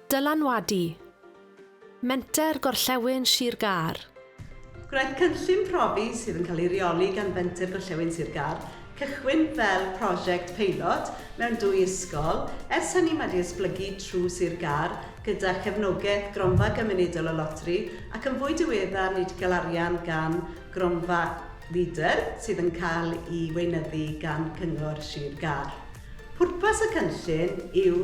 Dylanwadu, Menter Gorllewin Sir Gâr. Gwnaeth cynllun profi sydd yn cael ei reoli gan Fenter Gorllewin Sir Gâr cychwyn fel prosiect peilot mewn dwy ysgol, ers hynny mae 'di esblygu trwy Sir Gâr gyda chefnogaeth Gronfa Gymunedol y Loteri ac yn fwy diweddar ni 'di cael arian gan Gronfa Leader, sydd yn cael ei weinyddu gan Cyngor Sir Gâr. Pwrpas y cynllun yw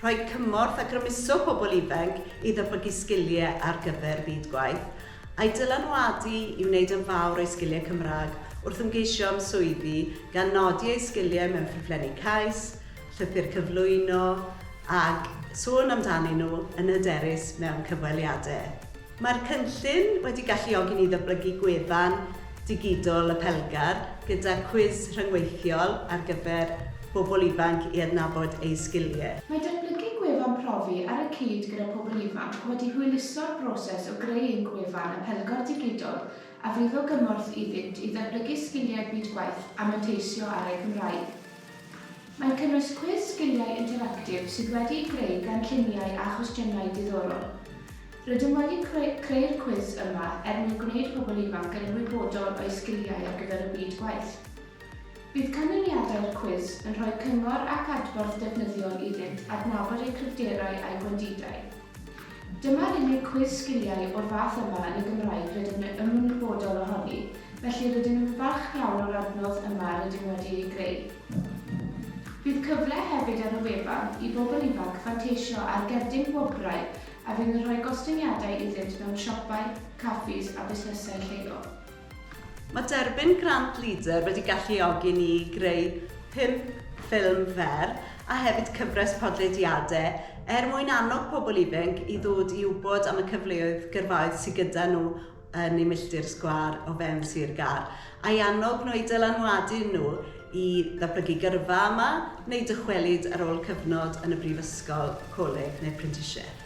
rhoi cymorth a grymuso pobl ifanc i ddatblygu sgiliau ar gyfer byd gwaith, a'u dylanwadu i wneud yn fawr o'u sgiliau Cymraeg wrth ymgeisio am swyddi, gan nodi eu sgiliau mewn ffurflenni cais, llythyr cyflwyno, ag sôn amdanyn nhw yn hyderus mewn cyfweliadau. Mae'r cynllun wedi galluogi ni ddyblygu gwefan digidol y Pelgar gyda cwis rhyngweithiol ar gyfer pobl ifanc i adnabod eu sgiliau. Mae datblygu gwefan profi ar y cyd gyda pobl ifanc wedi hwyluso'r broses o greu ein gwefan y Pelgar Digidol a fydd o gymorth iddynt i ddatblygu sgiliau byd gwaith a manteisio ar eu Cymraeg. Mae'n cynnwys cwis sgiliau interactif sydd wedi'u greu gan lluniau a chwestiynau diddorol. Rydym wedi creu'r cwis yma er mwyn gwneud pobl ifanc yn ymwybodol o'u sgiliau ar gyfer y byd gwaith. Bydd canlyniadau'r cwis yn rhoi cyngor ac adborth defnyddiol iddynt adnabod eu cryfderau a'u gwendidau. Dyma'r unig cwis sgiliau o'r fath yma yn y Gymraeg rydym yn ymwybodol ohoni, felly rydym yn falch iawn o'r adnodd yma rydym wedi ei greu. Bydd cyfle hefyd ar y wefan i bobl ifanc fanteisio ar gerdyn gwobrau a fydd yn rhoi gostyngiadau iddynt mewn siopau, caffis a busnesau lleol. Mae derbyn grant LEADER wedi galluogi ni i greu pump ffilm fer a hefyd cyfres podlediadau er mwyn annog pobl ifanc i ddod i wybod am y cyfleoedd gyrfaoedd sydd gyda nhw yn eu milltir sgwâr o fewn Sir Gâr, a'i annog nhw eu dylanwadu nhw i ddatblygu gyrfa yma neu dychwelyd ar ôl cyfnod yn y brifysgol, coleg neu'r prentisiaeth.